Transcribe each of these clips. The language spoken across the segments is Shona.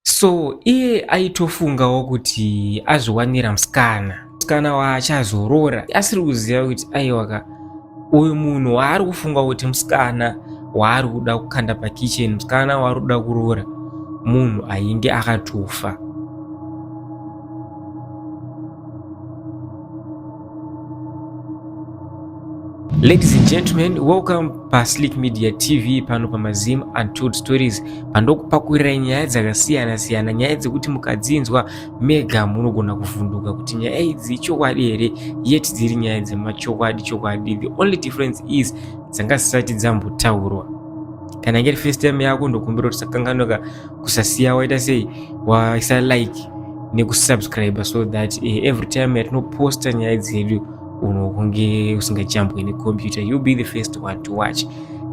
So iye aitofungawo kuti azviwanira musikana musikana waachazorora asiri kuziva kuti aiwaka uyu munhu waari kufunga kuti musikana waari kuda kukanda pakicheni musikana waari kuda kuroora munhu ainge akatofa Ladies and gentlemen, welcome paSlick Media TV pano pamaZim Untold Stories pandokupakurira nyaya dzakasiyana siyana, nyaya dzekuti mukadzinzwa mega munogona kuvhunduka kuti nyaya idzi ichokwadi here, yet dziri nyaya dzemachokwadi chokwadi. The only difference is dzanga dzisati dzambotaurwa. Kana ngeri first time yako ndokumbira kuti sakanganoka kusasiya waita sei waisa like nekusubscribe so that uh, every time yatinoposta nyaya dzedu unokunge usingajambwe nekompyuta you be the first one to watch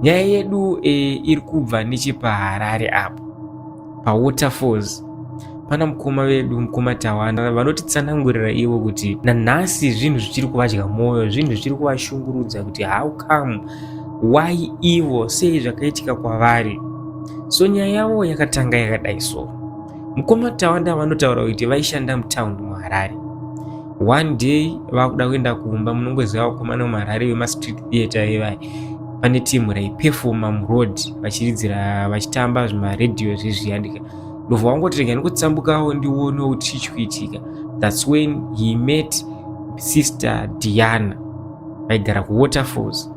nyaya yedu uh, iri kubva nechepaharare apo pawaterfalls pana mukoma vedu mukoma tawanda vanotitsanangurira ivo kuti nanhasi zvinhu zvichiri kuvadya mwoyo zvinhu zvichiri kuvashungurudza kuti how come why ivo sei zvakaitika kwavari So nyaya yavo yakatanga yakadai so. Mukoma Tawanda vanotaura kuti vaishanda mutown muHarare. One day vakuda kuenda kumba munongoziva vakomana muHarare vemastreet theatre ivai pane timu raipefoma muroad vachiridzira vachitamba zvimaradio zvezviya ndika ndobva wangoti rega ndikutsambukawo ndionewo kuti chii chikuitika thats when he met sister diana vaigara kuwaterfalls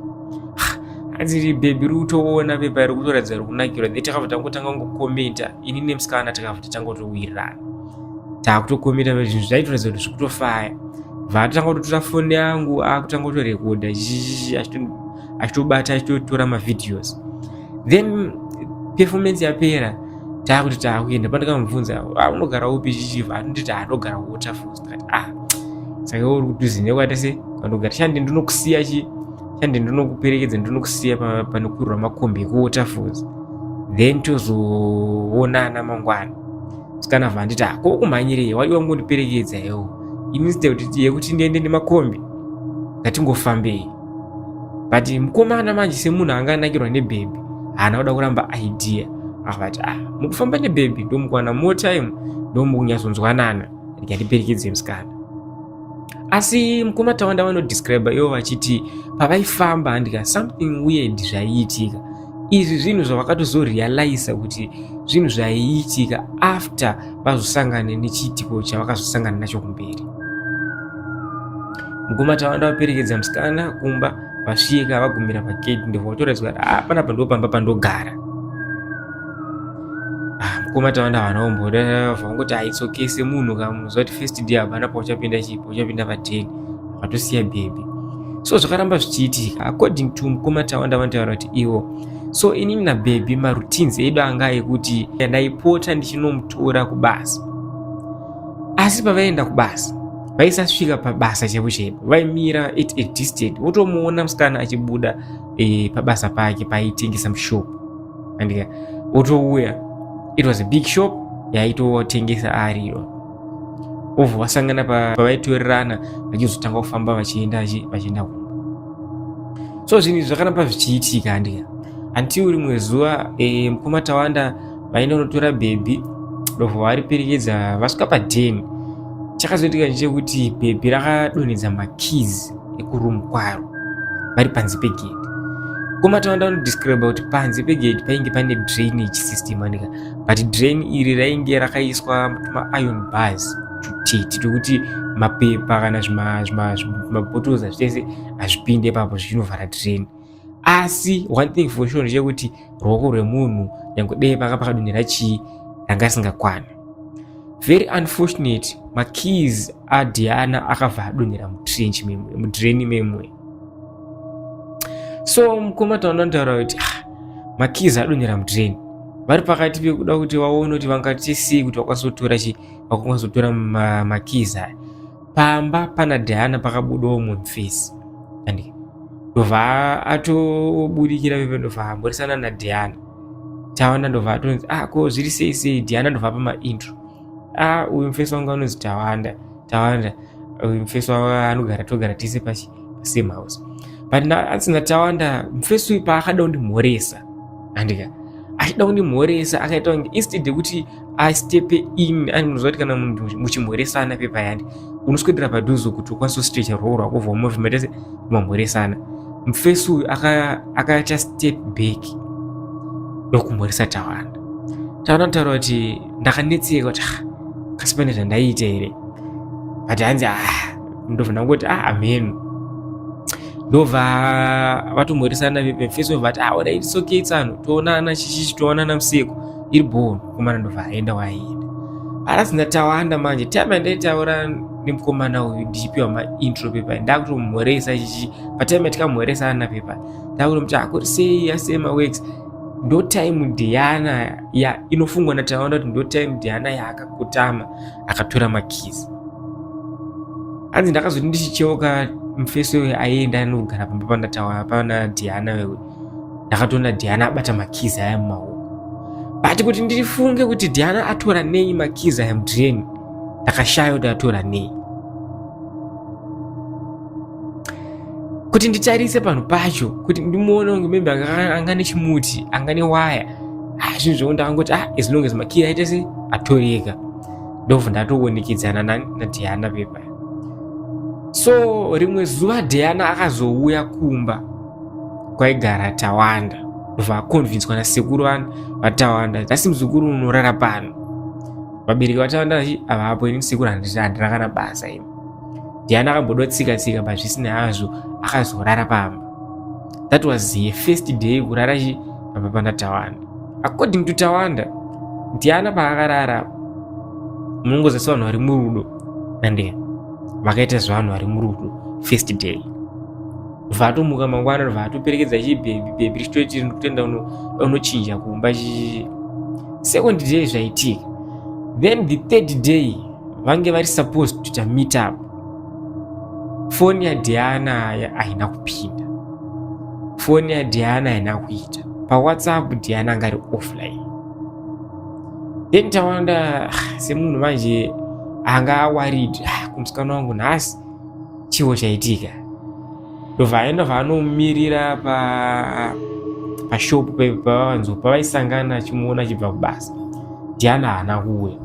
hanzi bhebhi ri kutoona pepa iri kutoratidza ri kunakirwa the takabva tangotanga kungokomenta ini nemusikana takabva tatangotowirirana taakutokomenta zvinhu zvaitoratidza kuti zviri kutofaya vatanga kutotora foni yangu akutanga kutorekodha achitobata achitotora mavhideos then performance yapera taakuti taakuenda pandakamubvunza ah, unogara upi chichiva atonditi atogara waterfalls ah saka uri kuti uzinyau kuita sei vanogara shande ndinokusiya chi shande ndinokuperekedza ndinokusiya panokwirwa makombi ekuwaterfalls then tozoonana mangwana sikana vanditi ah, ko kumhanyirei wadi wangondiperekedza iwo instead yekuti ndiende nemakombi ngatingofambei but mukomana manje semunhu anga anakirwa nebhebhi haana kuda kuramba idea akavati ah mukufamba nebhebhi ndomukwana more time ndomukunyatsonzwanana rega ndiperekedze musikana asi mukoma tawanda vanodescribe ivo vachiti pavaifamba handika something weird zvaiitika izvi zvinhu zvavakatozorealiza kuti zvinhu zvaiitika after vazosangane nechiitiko chavakazosangana nacho kumberi mukoma tawanda vaperekedza musikana kumba vasvika vagumira pagate ndobva vatoraidzwa kuti ah, panapa ndopamba pandogara ah, mukoma tavanda havana kumboda vangoti aitsokese munhu kamuziva kuti first day hapana pauchapinda chipo uchapinda pateni vatosiya bhebhi so zvakaramba zvichiitika according to mukoma tawanda vanotaura kuti ivo so inini nabhebhi maroutines edu anga ekuti ndaipota ndichinomutora kubasa asi pavaienda kubasa vaisasvika pabasa chaipo chaipo vaimira at a distance wotomuona musikana achibuda e, pabasa pake paaitengesa mushopu andika otouya it was a big shop yaitotengesa ari iyo obva vasangana pavaitorerana vachizotanga kufamba vachienda vachienda kumba so zvinhu izvi zvakaramba zvichiitika andika until rimwe zuva e, mukoma tawanda vaenda kunotora bhebhi ndobva variperekedza vasvika padheni chakazoitika chekuti bhebhi rakadonhedza makeys ekuroom kwaro vari panze pegedhi koma tavanda vanodescribe kuti panze pegedhi painge pane drainage system anika but drain iri rainge rakaiswa maion bars tutete tokuti mapepa kana zvimabottle zvachese hazvipinde ipapo zvichinovhara drain asi one thing for sure ndechekuti ruoko rwemunhu nyange dei paka pakadonhera chii ranga risingakwana very unfortunate makeys adiana akabva adonhera mutrench mudraini memwe so mukoma taona ntaura kuti ah, makeys adonhera mudraini vari pakati pekuda kuti vaone kuti vangati sei kuti vakwanisa kutora chi vakwanisa kutora makeys aya pamba pana Diana pakabudawo mumfisi and ndobva atobudikira pepe ndobva amborisana na Diana Tawana ndobva atonzi ah ko zviri sei sei Diana ndobva apa maintro ah uyu mfesi wangu anonzi Tawanda Tawanda uyu mfesi wangu anogara togara tese pashi same house but na asina Tawanda mfesi uyu paakada kundimhoresa andika achida kundimhoresa akaita kunge instead yekuti asi tepe in ani munoziva kuti kana munhu muchimhoresana pepayani unoswedera padhuze kuti ukwanise kustrecha ruoko rwako vhoma move matese mamhoresana mufesi uyu akaita step back ndokumhoresa tawanda tawanda kutaura kuti ndakanetseka kuti ah, kasi pane zvandaiita here but hanzi ah, ndobva ndangoti ah amhenu ndobva vatomhoresana vefesi vati ah, ona its okay tsano toonana chichichi toonana musiku iri bhoo mukomana ndobva aenda waaienda arasi ndatawanda manje time yandaitaura nemukomana uyu ndichipiwa maintro pepa ndakutomhoresa chichi patime yatikamhoresa ana pepa ndakutomuti akuri sei asema works ndo time diana ya inofungwa nataona kuti ndo time diana yaakakutama akatora makizi hanzi ndakazoti ndichicheuka mufeso uyo aienda anogara pamba pandatawa pana diana wewe ndakatoona Diana abata makizi aya mumaoko but kuti ndifunge kuti Diana atora nei makizi aya mudrain ndakashaya kuti atora nei kuti nditarise panhu pacho kuti ndimuone kunge maybe anga nechimuti anga newaya ah, zvinhu zvoku ndakangoti ah as long as makiri aite se atoreka ndobva ndatoonekedzana nadiana pepa so rimwe zuva diana akazouya kumba kwaigara tawanda vakonvinswa nasekuru vana vatawanda nhasi muzukuru unorara pano vabereki vatawanda vachi avapo ini sekuru handina kana basa imi ndiani akamboda tsika tsika but zvisinei hazvo akazorara pamba that was ye first day kurara chi pamba pana tawanda according to tawanda ndiana paakarara munongozasi vanhu vari murudo nandea vakaita zvevanhu vari murudo first day vatomuka mangwana ndobva atoperekedza chibhebhi bhebhi richitoiti riri kutoenda unochinja kumba chii second day zvaitika then the third day vange vari supposed kutoita meet up foni yadiana haina kupinda foni yadiana haina kuita pawhatsapp diana anga ari offline then tawanda ah, semunhu manje anga awarid ah, kumusikana wangu nhasi chiwo chaitika ndobva aenda vaanomirira pa pashopu pavanzo pavaisangana achimuona achibva kubasa diana haana kuuya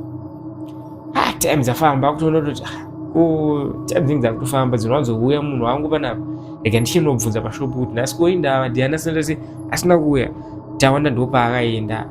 ah, time dzafamba kutoona kuti ah, ko time dzinge dzakutofamba dzinowanzouya munhu wangu panapa rega ndichinobvunza pashopu kuti nhasi koindava diana sindasi asina kuuya tawana ndopaakaenda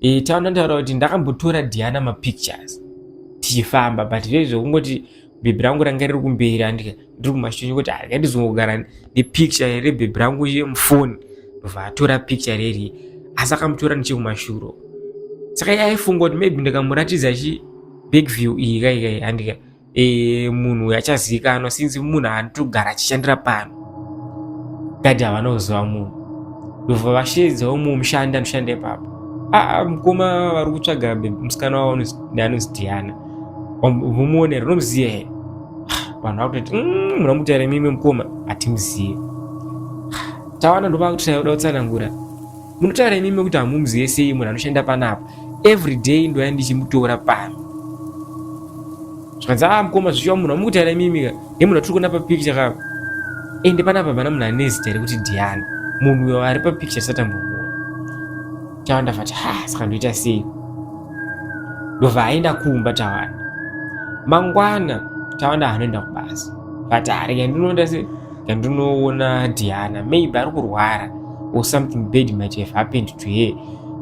e, taona taura kuti ndakambotora diana mapictures tichifamba but zve zvekungoti bhebhi rangu ranga riri kumberi andika ndiri kumashonyo kuti harika ah, ndizongogara nepicture rebhebhi rangu iye mufoni ndobva atora picture reri asi akamutora nechekumashuro saka yaifunga kuti maybe ndikamuratidza chi big view iyi kaikai andika e, munhu uyu achazivikanwa since munhu anotogara achishandira pano gadhi havana kuziva munhu ndobva vasheedzawo mumwe mushandi anoshanda ipapo aa mukoma vari kutsvaga musikana wavo anonzi diana vomuonera unomuziva here vanhu vakutoti mm, muna mutaira mimwe mukoma hatimuzive tawana ndovakutotauda kutsanangura Munotaura imimi kuti hamumuzive sei munhu anoshanda panapa every day ndoya ndichimutora pano zvikanzi ah mukoma zvichiwa munhu amukutaira imimi ka he munhu atiri kuona papikicha ka ende panapa pana munhu ane zita rekuti diana munhu uyo ari papikicha satambomuona tawa ndafati ha saka ndoita sei ndobva aenda kumba tawanda mangwana tawanda hanoenda kubasa but arega ndinoenda sei Ndinoona Diana maybe ari kurwara or something bad might have happened to her.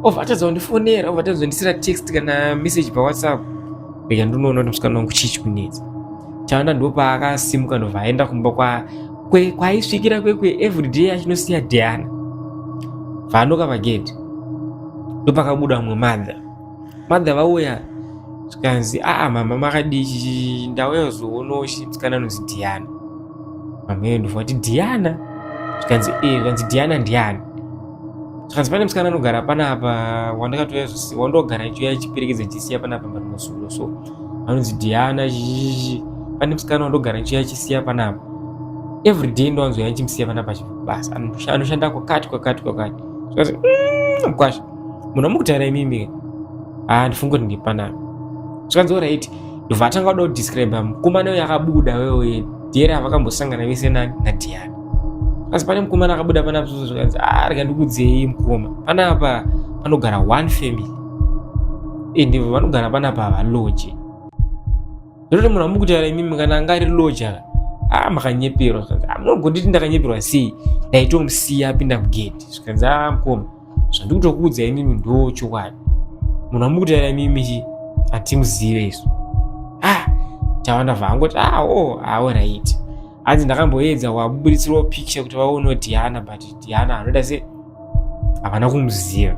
Ovatadza kundifonera, ovatadza kundisira text kana message pa WhatsApp. Rega ndinoona kuti musikana wangu chii chikunetsa. Chanda ndopaakasimuka ndobva aenda kumba kwa kwe kwaisvikira kwekwe everyday achinosiya Diana. Vanoka pagedhi. Ndopakabuda mumwe mother. mother vauya zvikanzi aa mama makadii ndauya kuzoonawo musikana anonzi diana mama iyo ndofunga kuti diana zvikanzi ee zvikanzi diana ndiani zvikanzi pane musikana anogara panapa wandakatouya zvose wandogara ichiuya ichiperekedza ichisiya panapa panosulo so anonzi diana zhizhizhi pane musikana wandogara ichiuya ichisiya panapa every day ndowanzoya ichimusiya panapa chibasa anoshanda kwakati kwakati kwakati zvikanzi mm, mkwasha munhu wamukutaira imimi haa ah, ndifunge kuti ndipanami zvikanzi orit ndobva atanga kuda kudescribe mukomana uyo akabuda wewe diyere avakambosangana vese nani nadiana asi pane mukomana akabuda pana bzuzo zvikanzi aa ah, rega ndikudzei mukoma panapa panogara one family ende eh, vanogara panapa havaloje zvototo munhu amukutaira imimi kana anga ari loje aka aa ah, makanyeperwa zvikanzi ah, munogonditi ndakanyeperwa sei ndaitomusiya apinda mugedhi zvikanzi aa mukoma zvandikutokuudza imimi ndo chokwadi munhu amukutaira imimi hatimuzive isu ah tawanda vangoti ah oh ah right hanzi ndakamboedza wabuburitsirwa picture kuti vaonewo diana but diana anoita se havana kumuziva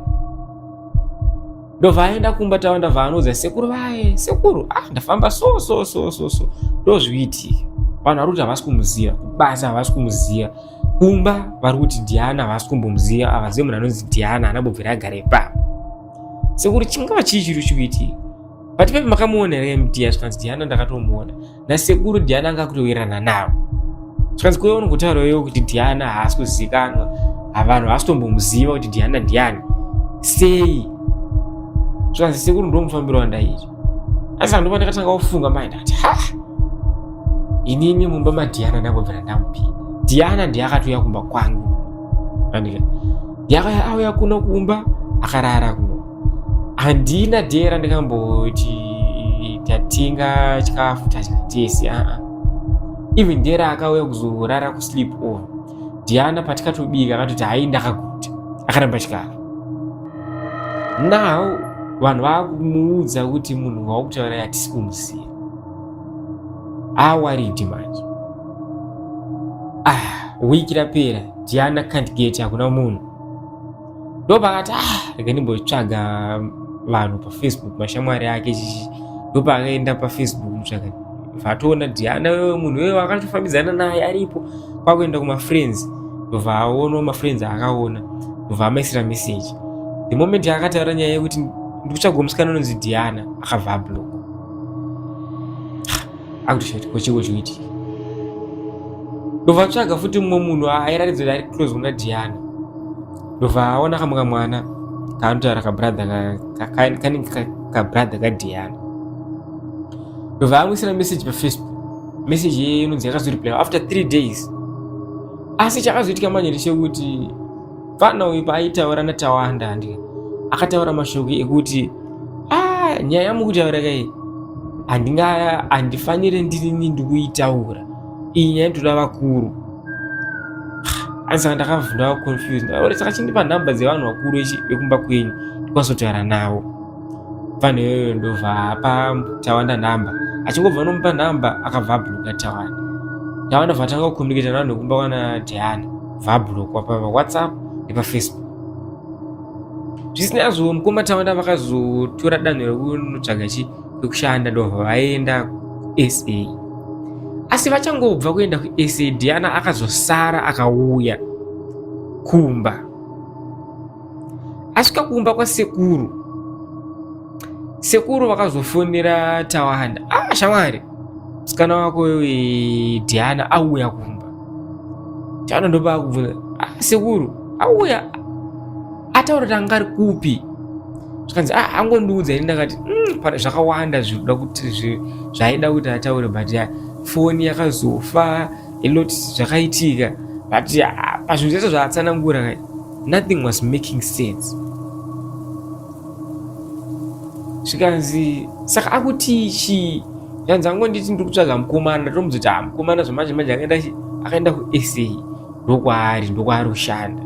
ndovaaenda kumba tawanda vaanoudza sekuru vaye sekuru ah ndafamba so so so so so ndozviitika vanhu vari kuti havasi kumuziva kubasa havasi kumuziva kumba vari kuti Diana havasi kumbomuziva havazive munhu anonzi Diana anambobvira agara ipapo sekuri chingava chii chiri chikuitii but pepi makamuona here mdia zvikanzi Diana ndakatomuona nasekuru Diana anga kutowirirana navo zvikanzi kuve uno kutaura iwo kuti Diana haasi kuzivikanwa havanhu havasi tombomuziva kuti Diana ndiani sei zvikanzi sekuru ndomufambiro wandaiita asi andova ndakatanga kufunga mai ndati ha inini mumba madhiana ndangobvira ndamupinda dhiana ndiye akatouya kumba kwangu andika yakaya auya kuno kumba akarara kuno handina dee randikamboti tatinga chikafu tadya tese aa even dee raakauya kuzorara kusleep over dhiana patikatobika akatoti hai ndakaguta akaramba chikara now vanhu vakumuudza kuti munhu waukutaura yatisi kumuziva awaridi manje ah wiki rapera diana can't get hakuna munhu ndopakati ah rega ndimbotsvaga vanhu pafacebook mashamwari ake chichi ndopakaenda pafacebook mutsvaga vatoona diana wewe munhu wewe wakatofambidzana naye aripo kwakuenda kumafriends ndobva aonawo mafriends aakaona ndobva amaisira message the moment akataura nyaya yekuti ndikutsvaga musikana unonzi diana akabva ablock akutoshati kochiko chikuitika ndobva atsvaga futi mumwe munhu airatidza kuti ari close kuna diana ndobva aona kamwe kamwana kaanotaura kabrother kanenge kabrother kadiana ndobva amwisira message pafacebook message iye inonzi yakazoreplaya after three days asi chakazoitika manje ndechekuti fana uyu paaitaura natawanda handi akataura mashoko ekuti a ah, nyaya yamukutaura kai handinga handifanire ndirini ndikuitaura iyi nyaya ndoda vakuru asi saka ndakavhunda confused saka chindipa nhamba dzevanhu vakuru vekumba kwenyu ndikwazotaura navo Mfana iyoyo ndobva apa Tawanda nhamba. Achingobva anomupa nhamba akabva abhuruka Tawanda. Tawanda vatanga kukomuniketa navanhu vekumba kwana Diana. Vabhurukwa pa WhatsApp nepafacebook. Zvisinazvo mukoma Tawanda vakazotora danho rekunotsvaga chi kwekushanda ndobva vaenda kuSA. Asi vachangobva kuenda kuSA Diana akazosara akauya kumba. asvika kumba kwasekuru sekuru vakazofonera tawanda ah shamwari musikana wako eh, diana auya kumba tawanda ndopa kubvunza ah sekuru auya ataura kuti anga ari kupi zvikanzi ah angondiudza ini ndakati mm, zvakawanda zvinoda kuti zvaida kuti ataure but foni yakazofa a lot zvakaitika but pazvinhu zvese zvaatsanangura nothing was making sense zvikanzi saka akuti chi zvanzi angonditi ndiri kutsvaga mukomana ndotomuzoti ha ah, mukomana zvamanje manje akaenda akaenda kusa ndokwaari ndokwaari kushanda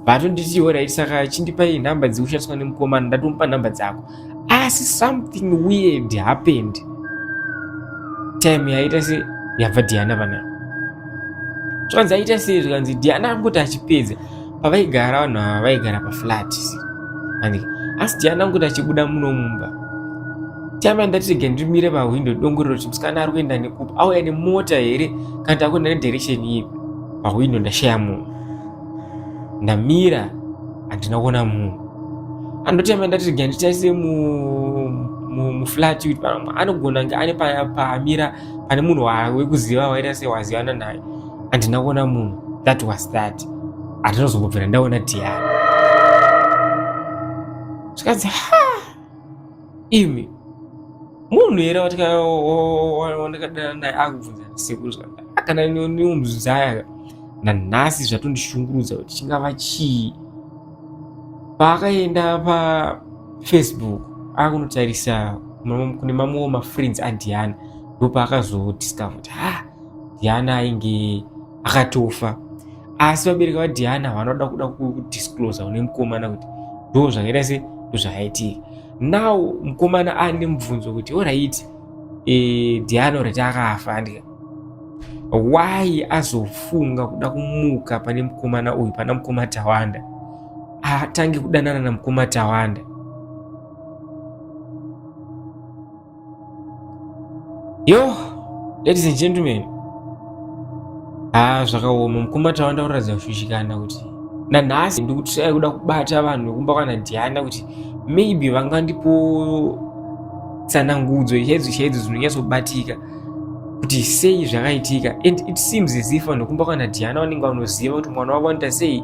vatonditiwo raiti saka chindipai nhamba dzikushandiswa nemukomana ndatomupa nhamba dzako asi something weird happened time yaita se yabva diana vana zvanzi aita sei zvikanzi diana angoti achipedza pavaigara vanhu ava vaigara paflat and asi diana angoti achibuda muno mumba time yandatirege ndimire pahwindo dongorero kuti musikana ari kuenda nekupi auya nemota here kana takuenda nedirection ipi pahwindo ndashaya munhu ndamira handina kuona munhu andotema ndati ga nditarise muflat kuti pano anogona kunge ane paamira pane munhu wekuziva waita se wazivana naye handina kuona munhu that was that handinozombobvira ndaona tiara zvikanzi ha imi munhu here wandakadana naye akubvunza sekuru zvakadai akana neumuzaya nanhasi zvatondishungurudza kuti chingava chii paakaenda pafacebook akunotarisa kune mamwewo mafriends andiyani ndopaakazodiscover kuti ha Diana ainge akatofa asi vabereki vadiana vanoda kuda kudisclosa une mukomana kuti ndo zvakaita se zvakaitika now mukomana ane mubvunzo kuti orit e, eh, diana oriti akafa andika why azofunga kuda kumuka pane mukomana uyu pana mukoma tawanda atange kudanana na mukoma tawanda yo ladies and gentlemen haa ah, zvakaoma mukumba tava ndakuratidza kushushikana kuti nanhasi ndikutisai kuda kubata vanhu vekumba kwana diana kuti maybe vangandipo tsanangudzo chaidzo chaidzo dzinonyatsobatika kuti sei zvakaitika and it seems as if vanhu vekumba kwana diana vanenge vanoziva kuti mwana wavo anoita sei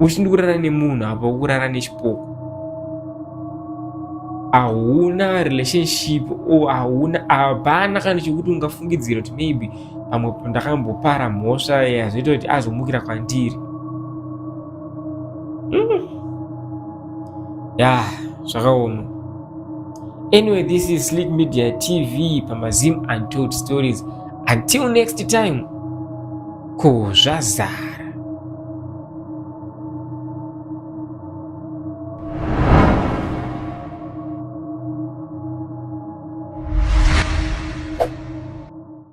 uchiti ndikurara nemunhu apa ukurara nechipoko hauna relationship o hauna hapana kana chekuti ungafungidzira kuti maybe pamwe ndakambopara mhosva yazoita kuti azomukira kwandiri mm. ya zvakaoma anyway this is sleep media tv pamazim untold stories until next time Ko zvazara.